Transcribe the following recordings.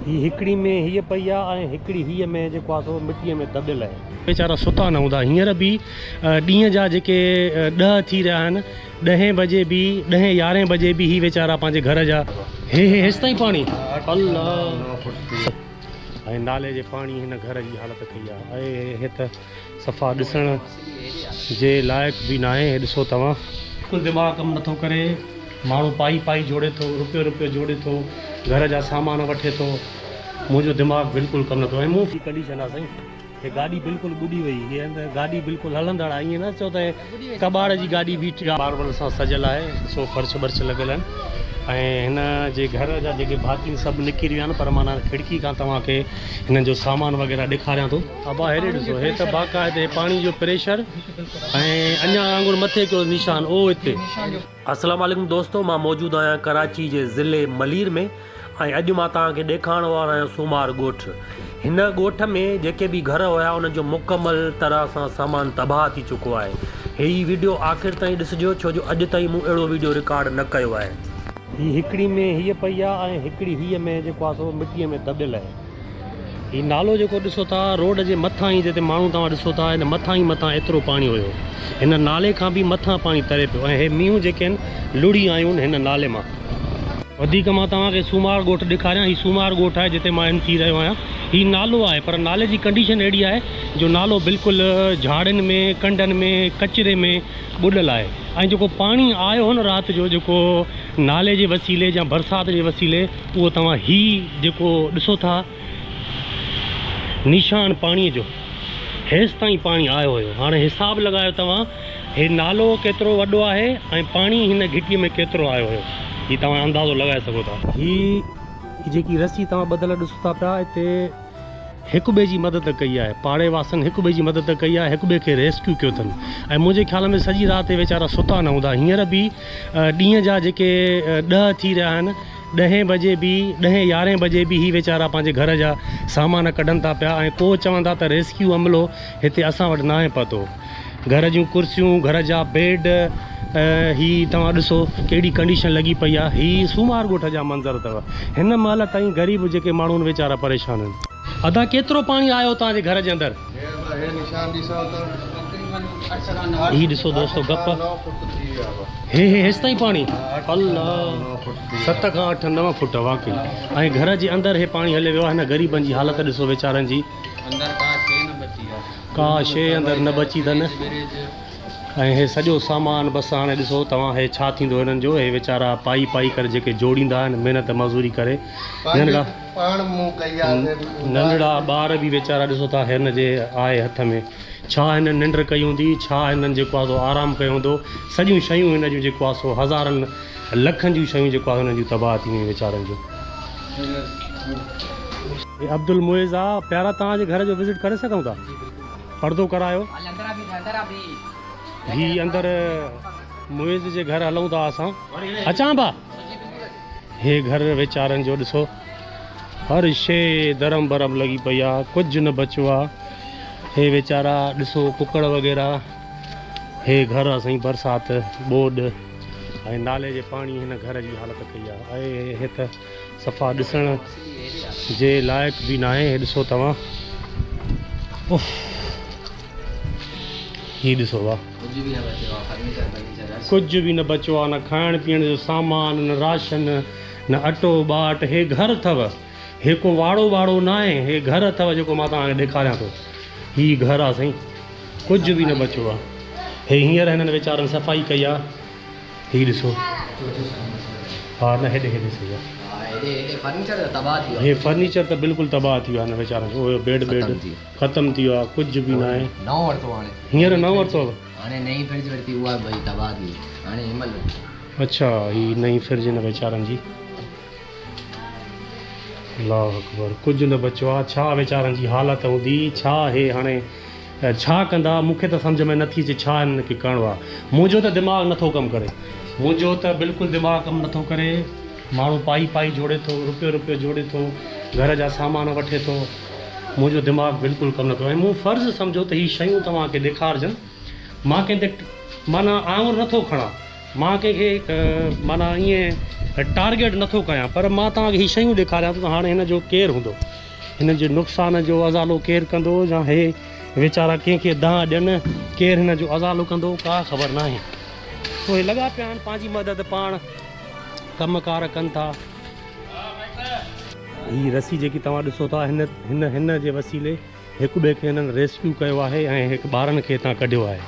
هي هڪڙي ۾ هيء پئي آ ۽ هڪڙي هيء ۾ جيڪو آ سو مٽيء ۾ دٻيل آهي. ويچارا ستا نه هوندا. هينئر به ڏينهن جا جيڪي ڏهه ٿي رهيا آهن، ڏهين بجي به، ڏهين يارهين بجي به هي ويچارا پنهنجي گهر جا هي هي هيستائين پاڻي الله ۽ نالي جي پاڻي هن گهر جي حالت ڪئي آ اي هي هي ته. صفا ڏسڻ جي لائق به ناهي هي ڏسو توهان. عقل دماغ ڪم نٿو ڪري ماڻهو پائي پائي جوڙي ٿو روپيو روپيو جوڙي ٿو گهر جا سامان وٺي ٿو منهنجو دماغ بلڪل ڪم نٿو ۽ مون ڪنڊيشن آ سائين هي گاڏي بلڪل ٻڏي وئي هي گاڏي بلڪل هلندڙ آ ائين نه چئو ته ڪٻاڙ جي گاڏي بيٺ آ. ماربل سان سجيل آهي سو فرش برش لڳل آهن ۽ هن جي گهر جا جيڪي ڀاتين سڀ نڪري ويا آهن پر مان هن کڙڪي کان توهان کي هنن جو سامان وغيره ڏيکاريان ٿو. ابا هيڏي ڏسو هي ته باقاعدي پاڻي جو پريشر ۽ اڃان وانگر مٿي ڪيو نشان او هتي. السلام عليڪم دوستو مان موجود آهيان ڪراچي جي ضلعي ملير ۾ ۽ اڄ مان توهان کي ڏيکارڻ وارو آهيان سومار ڳوٺ هن ڳوٺ ۾ جيڪي به گهر هيا انهن جو مڪمل طرح سان سامان تباهه ٿي چڪو آهي هي ويڊيو آخر تائين ڏسجو ڇو جو اڄ تائين مون اهڙو ويڊيو رڪارڊ نه ڪيو آهي هي هڪڙي ۾ هيء پئي آهي ۽ هڪڙي هيء ۾ جيڪو آهي سو مٽيء ۾ دٻيل آهي هي نالو جيڪو ڏسو ٿا روڊ جي مٿان ئي جتي ماڻهو توهان ڏسو ٿا ان مٿان ئي مٿان ايترو پاڻي هيو هن نالي کان به مٿان پاڻي تري پيو ۽ هي مينهون جيڪي آهن لڙهي آيون هن نالي مان. وڌيڪ مان توهان کي سومار ڳوٺ ڏيکاريان هي سومار ڳوٺ آهي جتي مان ان ٿي رهيو آهيان هي نالو آهي پر نالي جي ڪنڊيشن اهڙي آهي جو نالو بلڪل جهاڙين ۾ ڪنڊن ۾ ڪچري ۾ ٻڏل آهي ۽ جيڪو پاڻي آيو هو نه رات جو جيڪو نالي جي وسيلي جا برسات جي وسيلي اهو توهان هي جيڪو ڏسو ٿا نيشان پاڻي جو هيستائين پاڻي آيو هيو هاڻي حساب لڳايو توهان هي نالو ڪيترو وڏو آهي ۽ پاڻي هن گهٽي ۾ ڪيترو آيو هيو هي توهان اندازو لڳائي سگهو ٿا. هي جيڪي رسي توهان ٻڌل ڏسو ٿا پيا هتي. هڪ ٻئي جي مدد ڪئي آهي، پاڙي واسن هڪ ٻئي جي مدد ڪئي آهي، هڪ ٻئي کي ريسڪيو ڪيو اٿن ۽ منهنجي خيال ۾ سڄي رات هي ويچارا ستا نه هوندا، هينئر به ڏينهن جا جيڪي ڏهه ٿي رهيا آهن، ڏهين بجي به، ڏهين يارهين بجي به هي ويچارا پنهنجي گهر جا سامان ڪڍن ٿا پيا ۽ ڪو چون ٿا ته ريسڪيو عملو هتي اسان وٽ ناهي پهتو. گهر جون ڪرسيون گهر جا بيڊ هي توهان ڏسو ڪهڙي ڪنڊيشن لڳي پئي آ هي سومار ڳوٺ جا منظر اٿو هن مهل تائين غريب جيڪي ماڻهون ويچارا پريشان آهن. ادا ڪيترو پاڻي آيو توهان جي گهر جي اندر. هي ڏسو دوستو گپ هي هي هيستائين پاڻي الله ست کان اٺ نو فوٽ واقعي ۽ گهر جي اندر هي پاڻي هلي ويو آ هن غريبن جي حالت ڏسو ويچارن جي اندر ڪا شي نه بچي آ. ڪا شيء اندر نه بچي اٿن ۽ هي سڄو سامان بس هاڻي ڏسو توهان هي ڇا ٿيندو هنن جو هي ويچارا پائي پائي ڪري جيڪي جوڙيندا آهن محنت مزوري ڪري ننڍڙا ننڍڙا ٻار به ويچارا ڏسو ٿا هن جي آهي هٿ ۾ ڇا هنن ننڊ ڪئي هوندي ڇا هنن جيڪو آهي سو آرام ڪيو هوندو سڄيون شيون هن جون جيڪو آهي سو هزارن لکن جون شيون جيڪو آهي هنن جون تباهه ٿي ويون ويچارن جون عبدالمعز آء پيارا توهان جي گهر جو وزٽ ڪري سگهون ٿا پردو ڪرايو هي اندر معز جي گهر هلون ٿا اسان اچان با هي گهر ويچارن جو ڏسو هر شي درم برم لڳي پئي آ ڪجهه نه بچو آ هي ويچارا ڏسو ڪڪڙ وغيره هي گهر اسين برسات ٻوڏ ۽ نالي جي پاڻي هن گهر جي حالت ڪئي آ اهي هي ته صفا ڏسڻ جي لائق به ناهي هي ڏسو توهان اف هي ڏسو وا ڪجهه به نه بچو آ نه کائڻ پيئڻ جو سامان نه راشن نه اٽو ٻاٽ هي گهر اٿو هي ڪو واڙو ٻاڙو ناهي، هي گهر اٿو جيڪو مان توهان کي ڏيکاريان ٿو. هي گهر آ سائين. ڪجهه به نه بچيو آ. هي هينئر هنن ويچارن صفائي ڪئي آ. هي ڏسو. ها نه هيڏي هيڏي سهي آ. هي فرنيچر ته بلڪل تباهه ٿي ويو آ هنن ويچارن جو. اهو بيڊ بيڊ ختم ٿي ويو آ. ڪجهه به ناهي. هينئر نئون ورتو آ. اڇا هي نئين فرج هن ويچارن جي. الله اڪبر ڪجهه نه بچيو آ ڇا ويچارن جي حالت هوندي ڇا هي هاڻي ڇا ڪندا مون کي ته سمجهه ۾ نه ٿي اچي ڇا هنن کي ڪرڻو آ منهنجو ته دماغ نه ٿو ڪم ڪري منهنجو ته بلڪل دماغ ڪم نه ٿو ڪري ماڻهو پائي پائي جوڙي ٿو روپيو روپيو جوڙي ٿو گهر جا سامان وٺي ٿو منهنجو دماغ بلڪل ڪم نه ٿو ۽ مون فرض سمجهو ته هي شيون توهان کي ڏيکارجن مان ڪنهن تي معنيٰ آڱر نه ٿو کڻان مان ڪنهن کي معنيٰ ائين ٽارگيٽ نه ٿو ڪيان پر مان توهان کي هي شيون ڏيکاريان ٿو ته هاڻي هن جو ڪير هوندو؟ هن جي نقصان جو ازالو ڪير ڪندو يا هي ويچارا ڪنهن کي دانهن ڏين؟ ڪير هن جو ازالو ڪندو؟ ڪا خبر ناهي. سو هي لڳا پيا آهن پنهنجي مدد پاڻ ڪم ڪار ڪن ٿا. هي رسي جيڪي توهان ڏسو ٿا هن هن جي وسيلي هڪ ٻئي کي هنن ريسڪيو ڪيو آهي ۽ هڪ ٻارن کي هتان ڪڍيو آهي.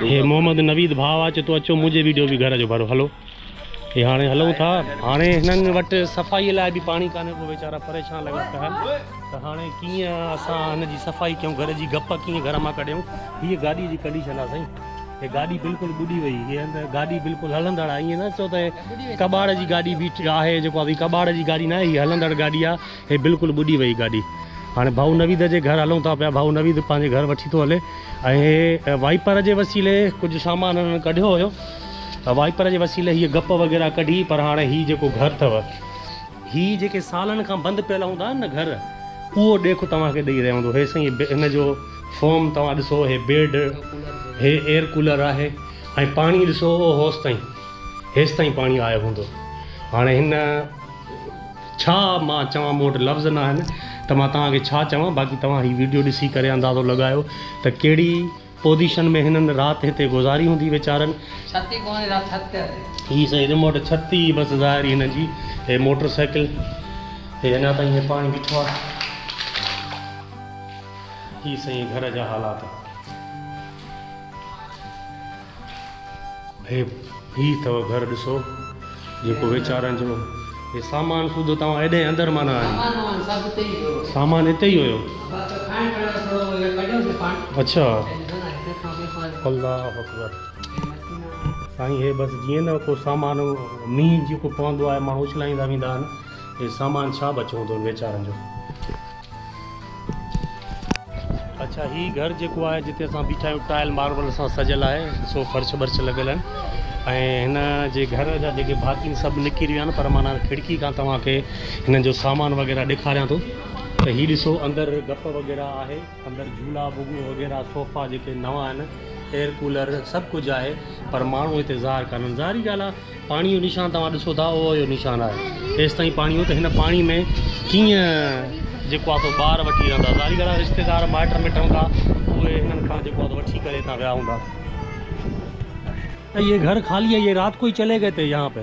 هي محمد نويد ڀاء آهي چي تو اچو منهنجي ويڊيو به گهر جو ڀرو هلو هي هاڻي هلون ٿا هاڻي هنن وٽ صفائي لاء به پاڻي ڪانهي ڪو ويچارا پريشان لڳا پيا آهن ته هاڻي ڪيئن اسان هن جي صفائي ڪيون گهر جي گپ ڪيئن گهر مان ڪڍيون هي گاڏي جي ڪنڊيشن آهي سائين هي گاڏي بلڪل ٻڏي وئي هي هنن گاڏي بلڪل هلندڙ آهي ائين نه چئو ته ڪٻاڙ جي گاڏي بيٺ آهي جيڪو آهي ڪٻاڙ جي گاڏي نه آهي هي هلندڙ گاڏي آهي هي بلڪل ٻڏي وئي گاڏي هاڻي ڀائو نويد جي گهر هلون ٿا پيا ڀائو نويد پنهنجي گهر وٺي ٿو هلي ۽ هي وائپر جي وسيلي ڪجهه سامان هنن ڪڍيو هيو وائپر جي وسيلي هي گپ وغيره ڪڍي پر هاڻي هي جيڪو گهر اٿو هي جيڪي سالن کان بند پيل هوندا آهن نه گهر اهو ڏيک توهان کي ڏئي رهيو هوندو هي سائين هن جو فارم توهان ڏسو هي بيڊ هي ايئر ڪولر آهي ۽ پاڻي ڏسو هوس تائين هيس تائين پاڻي آيو هوندو هاڻي هن ڇا مان چوان مون وٽ لفظ ناهن ته مان توهان کي ڇا چوان باقي توهان هي ويڊيو ڏسي ڪري اندازو لڳايو ته ڪهڙي پوزيشن ۾ هنن رات هتي گذاري هوندي ويچارن. ڇت ئي ڪونهي رات ڇت تي هلي. هي سائين ريموٽ ڇت ئي بس ظاهر هنن جي هي موٽر سائيڪل هي اڃا تائين هي پاڻي بيٺو آ هي سائين گهر جا حالات. هي هي ٿو گهر ڏسو جيڪو ويچارن جو هي سامان سوڌو توهان ايڏي اندر مان نه آيو سامان اتي ئي هيو اڇا الله اڪبر سائين هي بس جيئن نه ڪو سامان مينهن جيڪو پوندو آهي ماڻهو اڇلائيندا ويندا آهن هي سامان ڇا بچو هوندو ويچارن جو اڇا هي گهر جيڪو آهي جتي اسان بيٺا آهيون ٽائل ماربل سان سجل آهي ڏسو فرش برش لڳل آهن ۽ هن جي گهر جا جيڪي ڀاتين سڀ نڪي رهيا آهن پر مان کڙڪي کان توهان کي هنن جو سامان وغيرہ ڏيکاريان ٿو ته هي ڏسو اندر گپ وغيرہ آهي اندر جھولا بگو وغيرہ صوفا جيڪي نوان آهن ايئر ڪولر سڀ ڪجھ آهي پر ماڻهو هتي ظاهر ڪانن ظاهري ڳالھ آهي پاڻي جو نشان توهان ڏسو ٿا اهو اهو نشان آهي ايستائين پاڻي هو ته هن پاڻي ۾ ڪيئن جيڪو آهي سو ٻار وٺي ويا هوندا ظاهري ڳالهه آهي رشتيدار مائٽ مٽ هوندا اهي هنن کان جيڪو آهي وٺي ڪري هتان ويا هوندا ته هي گهر خالي آهي يي رات ڪوئي چلي گئي تي يهان پي.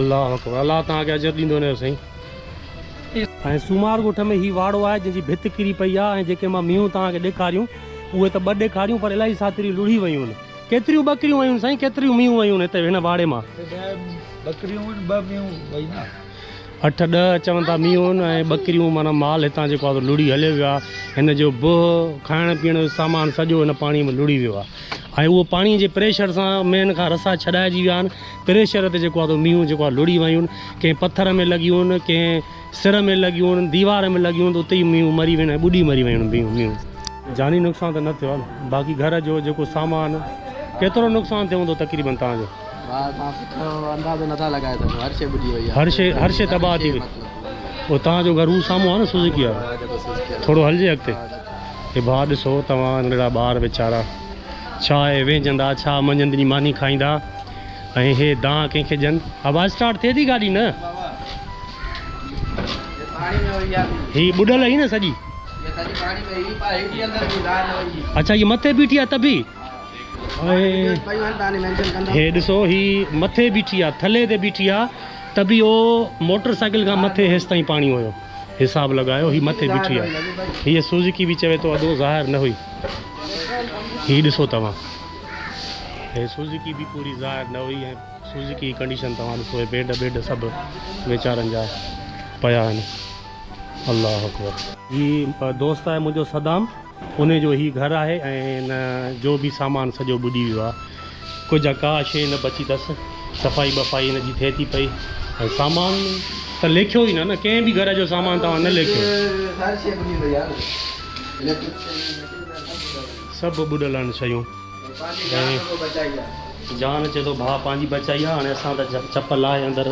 الله اڪبر الله توهان کي اجر ڏيندو وڃيو سائين. ۽ سومار ڳوٺ ۾ هي واڙو آهي جنهن جي ڀت ڪري پئي آهي ۽ جيڪي مان مينهون توهان کي ڏيکاريون اهي ته ٻه ڏيکاريون پر الائي ساٿريون لڙهي ويون ڪيتريون ٻڪريون ويون سائين ڪيتريون مينهون ويون هتي هن واڙي مان. ٻڪريون ويون ٻه مينهون وئي نه. اٺ ڏهه چون ٿا مينهون ۽ ٻڪريون معنيٰ مال هتان جيڪو آهي سو لڙهي هليو ويو آهي هن جو بوهه کائڻ پيئڻ جو سامان سڄو هن پاڻي ۾ لڙهي ويو آهي ۽ اهو پاڻي جي پريشر سان مين کان رسا ڇڏائجي ويا آهن پري شهر تي جيڪو آ تو مينهون جيڪو آ لڙي ويون ڪنهن پٿر ۾ لڳيون ڪنهن سر ۾ لڳيون ديوار ۾ لڳيون ته اتي ئي مينهون مري وين ۽ ٻڏي مري ويون مينهون. جاني نقصان ته نه ٿيو آ باقي گهر جو جيڪو سامان ڪيترو نقصان ٿيو هوندو تقريبن توهان جو. ڀاء توهان سٺو اندازو نٿا لڳائي سگهو هر شي ٻڏي وئي آ هر شي هر شي تباهه ٿي وئي مطلب توهان جو گهر هو سامهون آ نه سوزڪي وارو ها جيڪو سوزڪي وارو ٿورو هلجي اڳتي هي ڀاء ڏسو توهان ننڍڙا ٻار ويچارا ڇا اهي ويهجندا ڇا منجهند جي ماني کائيندا. ۽ هي دانهن ڪنهن کي ڏين؟ آواز اسٽارٽ ٿئي ٿي گاڏي نه؟ هي ٻڏل هئي نه سڄي؟ اڇا هي مٿي بيٺي آ تبي؟ هي ڏسو هي مٿي بيٺي آ ٿلي تي بيٺي آ تبي او موٽر سائيڪل کان مٿي هيس تائين پاڻي هيو حساب لڳايو هي مٿي بيٺي آ هي سوزڪي به چوي ٿو ادو ظاهر نه هئي هي ڏسو توهان هي سوزوڪي به پوري ظاهر نه هئي ۽ سوزوڪي جي ڪنڊيشن توهان ڏسو هي بيڊ بيڊ سڀ ويچارن جا پيا آهن الله اڪبر. هي دوست آهي منهنجو صدام انهي جو هي گهر آهي ۽ ان جو به سامان سڄو ٻڏي ويو آهي ڪجهه ۽ ڪا شيء نه بچي تس صفائي ٻفائي ان جي ٿئي ٿي پئي ۽ سامان ته ليکيو ئي نه نه ڪنهن به گهر جو سامان توهان نه ليکيو. سڀ ٻڏل آهن شيون ۽ جان اچي ٿو ڀاء پنهنجي بچائي آ هاڻي اسان ته چپ لاهي اندر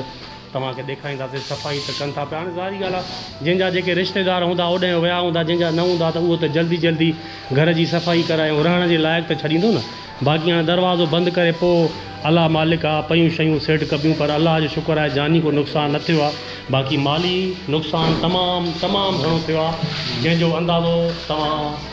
توهان کي ڏيکارينداسين صفائي ته ڪن ٿا پيا هاڻي ظاهري ڳالهه آ جنهن جا جيڪي رشتيدار هوندا اوڏانهن ويا هوندا جنهن جا نه هوندا ته اهو ته جلدي جلدي گهر جي صفائي ڪرائي ۽ رهڻ جي لائق ته ڇڏيندو نه باقي هاڻي دروازو بند ڪري پوء الله مالڪ آ پيون شيون سيٽ ڪبيون پر الله جو شڪر آهي جاني ڪو نقصان نه ٿيو آ باقي مالي نقصان تمام تمام گهڻو ٿيو آ جنهن جو اندازو توهان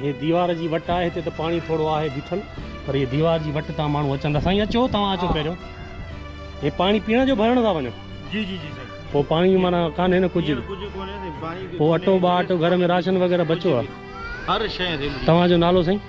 هي ديوار جي وٽ آهي هتي ته پاڻي ٿورو آهي بيٺل پر هي ديوار جي وٽ تان ماڻهو اچن ٿا سائين اچو توهان اچو پهريون هي پاڻي پيئڻ جو ڀرڻ ٿا وڃن جي جي جي سائين پوء پاڻي مانا ڪانهي نه ڪجهه ڪجهه ڪونهي پاڻي پوء اٽو ٻاٽ گهر ۾ راشن وغيره بچو آهي هر شيء تي توهان جو نالو سائين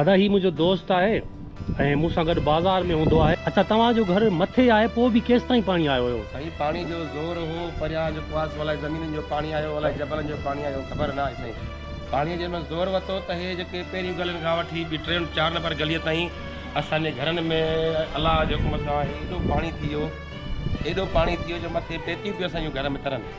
ادا هي منهنجو دوست آهي ۽ مون سان گڏ بازار ۾ هوندو آهي. اچا توهان جو گهر مٿي آهي پوء به ڪيستائين پاڻي آيو هيو. سائين پاڻي جو زور هو پريان جو ڪواس الائي زمينن جو پاڻي آيو الائي جبلن جو پاڻي آيو خبر ناهي سائين پاڻي جنهن مهل زور وتو ته هي جيڪي پهريون گلين کان وٺي ٻي ٽي چار نمبر گلي تائين اسان جي گهرن ۾ الله جي حڪم سان ايڏو پاڻي ٿي ويو ايڏو پاڻي ٿي ويو جو مٿي پيتيون پيون اسان جون گهر ۾ ترن.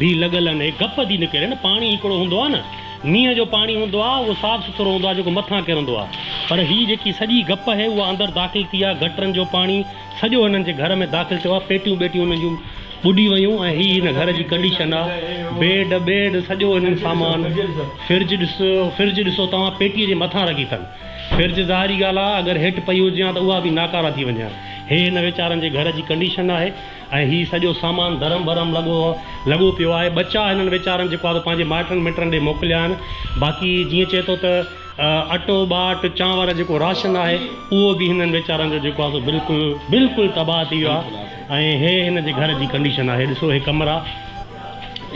ڀي لڳل آھن ھي گپ ٿي نڪري نه پاڻي ھڪڙو ھوندو آ نه مينهن جو پاڻي ھوندو آ اھو صاف سٿرو ھوندو آ جيڪو مٿان ڪرندو آ پر ھي جيڪي سڄي گپ ھي اھا اندر داخل ٿي آ گٽرن جو پاڻي سڄو ھنن جي گھر ۾ داخل ٿيو آ پيٽيون ٻيٽيون ھنن جون ٻڏي ويون ۽ ھي ھن گھر جي ڪنڊيشن آ بيڊ ٻيڊ سڄو ھنن سامان فرج ڏس فرج ڏسو توھان پيٽي جي مٿان رکي ٿن فرج ظاھري ڳالھ آ اگر ھيٺ پئي ھجي ھان ته اھا به ناڪارا ٿي وڃي ھان ھي ھن ويچارن جي گھر جي ڪنڊيشن آھي. ۽ هي سڄو سامان درم برم لڳو لڳو پيو آهي. ٻچا هنن ويچارن جيڪو آهي سو پنهنجي مائٽن مٽن ڏي موڪليا آهن. باقي جيئن چئي ٿو ته اٽو ٻاٽ چانور جيڪو راشن آهي اهو به هنن ويچارن جو جيڪو آهي سو بلڪل بلڪل تباهه ٿي ويو آهي ۽ هي هن جي گهر جي ڪنڊيشن آهي ڏسو هي ڪمرا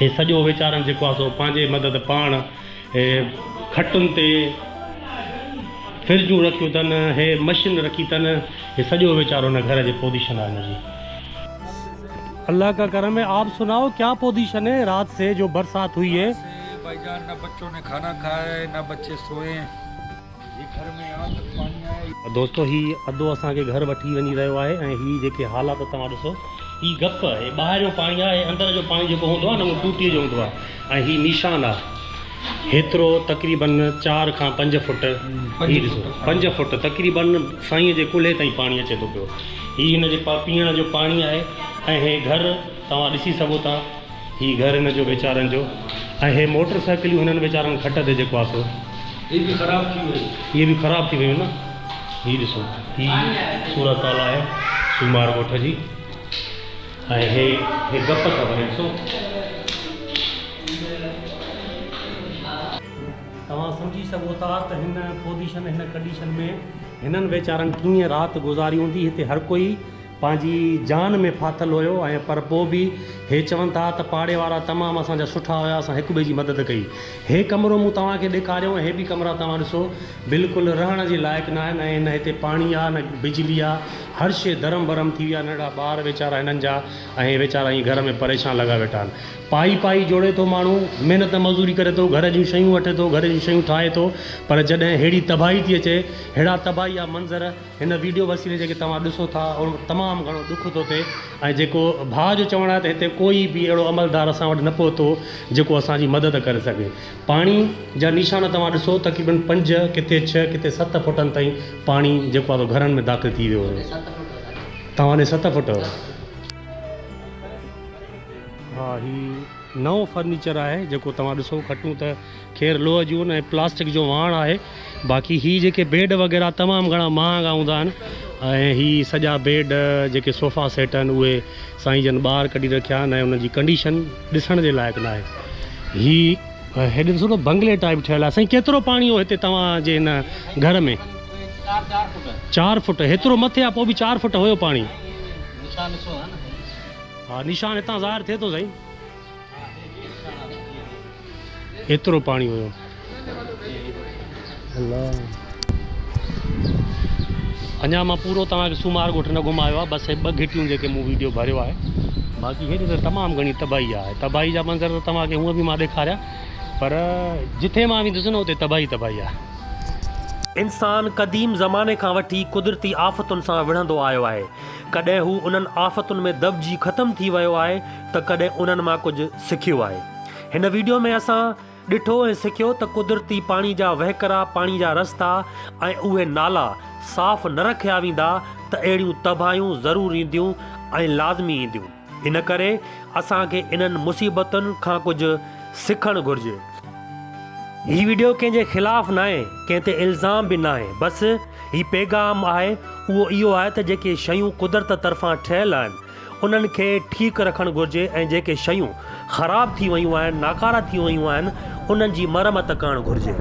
هي سڄو ويچارن جيڪو آهي سو پنهنجي مدد پاڻ هي کٽن تي فرجون رکيون تن، هي مشين رکي تن، هي سڄو ويچارو هن گهر جي پوزيشن آ هن جي. الله ڪا ڪرم هي آپ سنائو ڪيا پوزيشن هي رات سي جو برسات هئي هي. رات سي بائيجان نه بچو ني کانا کائي نه بچي سوئي. دوستو هي ادو اسان کي گهر وٺي وڃي رهيو آهي ۽ هي جيڪي حالات توهان ڏسو هي گپ هي ٻاهريون پاڻي آهي ۽ اندر جو پاڻي جيڪو هوندو آهي نه اهو ٽوٽي جو هوندو آهي ۽ هي نيشان آهي هيترو تقريبن چار کان پنج فوٽ هي ڏسو پنج فوٽ تقريبن سائين جي ڪلهي تائين پاڻي اچي ٿو پيو هي هن جي پيئڻ جو پاڻي آهي ۽ هي گهر توهان ڏسي سگهو ٿا هي گهر هن جو ويچارن جو ۽ هي موٽر سائيڪليون هنن ويچارن کٽ تي جيڪو آ سو. هي به خراب ٿي ويون. هي به خراب ٿي ويون نه. هي ڏسو هي صورت حال آهي سومار ڳوٺ جي ۽ هي هي گپ ٿا ڀرين ڏسو. توهان سمجهي سگهو ٿا ته هن پوزيشن هن ڪنڊيشن ۾ هنن ويچارن ڪيئن رات گذاري هوندي هتي هر ڪوئي پنهنجي جان ۾ ڦاٿل هيو ۽ پر پوء به هي چون ٿا ته پاڙي وارا تمام اسان جا سٺا هيا اسان هڪ ٻئي جي مدد ڪئي هي ڪمرو مون توهان کي ڏيکاريو ۽ هي به ڪمرا توهان ڏسو بلڪل رهڻ جي لائق نه آهن ۽ نه هتي پاڻي آ نه بجلي آ هر شي درم برم ٿي وئي آ ننڍڙا ٻار ويچارا هنن جا ۽ ويچارا ائين گهر ۾ پريشان لڳا ويٺا آهن پائي پائي جوڙي ٿو ماڻهو محنت مزوري ڪري ٿو گهر جون شيون وٺي ٿو گهر جون شيون ٺاهي ٿو پر جڏهن ههڙي تباهي ٿي اچي ههڙا تباهي جا منظر هن ويڊيو وسيلي جيڪي توهان ڏسو ٿا ان ۾ تمام گهڻو ڏک ٿو ٿئي ۽ جيڪو ڀاء جو چوڻ آهي ته هتي ڪوئي به اهڙو عملدار اسان وٽ نه پهتو جيڪو اسان جي مدد ڪري سگهي پاڻي جا نيشان توهان ڏسو تقريبن پنج ڪٿي ڇهه ڪٿي ست فٽن تائين پاڻي جيڪو آهي گهرن ۾ داخل ٿي ويو هو توهان ڏي ست فٽ هو ها هي نئون فرنيچر آهي جيڪو توهان ڏسو کٽون ته خير لوهه جون ۽ پلاسٽڪ جو واهڻ آهي باقي هي جيڪي بيڊ وغيره تمام گهڻا مهانگا هوندا آهن ۽ هي سڄا بيڊ جيڪي صوفا سيٽ آهن اهي سائين جن ٻاهر ڪڍي رکيا آهن ۽ انهن جي ڪنڊيشن ڏسڻ جي لائق نه آهي هي هيڏي ڏسو ته بنگلي ٽائپ ٺهيل آهي سائين ڪيترو پاڻي هو هتي توهان جي هن گهر ۾ چار فٽ هيترو مٿي آهي پوء به چار فٽ هيو پاڻي ها نشان هتان ظاهر ٿئي ٿو سائين ايترو پاڻي هيو. اڃا مان پورو توهان کي سومار ڳوٺ نه گهمايو آهي بس هي ٻه گهٽيون جيڪي مون ويڊيو ڀريو آهي باقي هيڏي ته تمام گهڻي تباهي آهي تباهي جا منظر ته توهان کي هونء به مان ڏيکاريا پر جتي مان ويندس نه اتي تباهي تباهي آهي. انسان قديم زماني کان وٺي قدرتي آفتن سان وڙهندو آيو آهي. ڪڏهن هو انهن آفتن ۾ دٻجي ختم ٿي ويو آهي ته ڪڏهن انهن مان ڪجهه سکيو آهي. هن ويڊيو ۾ اسان ڏٺو ۽ سکيو ته قدرتي پاڻي جا وهڪرا، پاڻي جا رستا ۽ اهي نالا صاف نه رکيا ويندا ته اهڙيون تباهيون ضرور اينديون ۽ لازمي اينديون. ان ڪري اسان کي انهن مصيبتن کان ڪجهه سکڻ گهرجي. هي ويڊيو ڪنهن جي خلاف ناهي، ڪنهن تي الزام به ناهي، بس هي پيغام آهي اهو اهو آهي ته جيڪي شيون قدرت طرفان ٺهيل آهن، انهن کي ٺيڪ رکڻ گهرجي ۽ جيڪي شيون خراب ٿي ويون آهن، ناڪارا ٿي ويون آهن، انهن جي مرمت ڪرڻ گهرجي.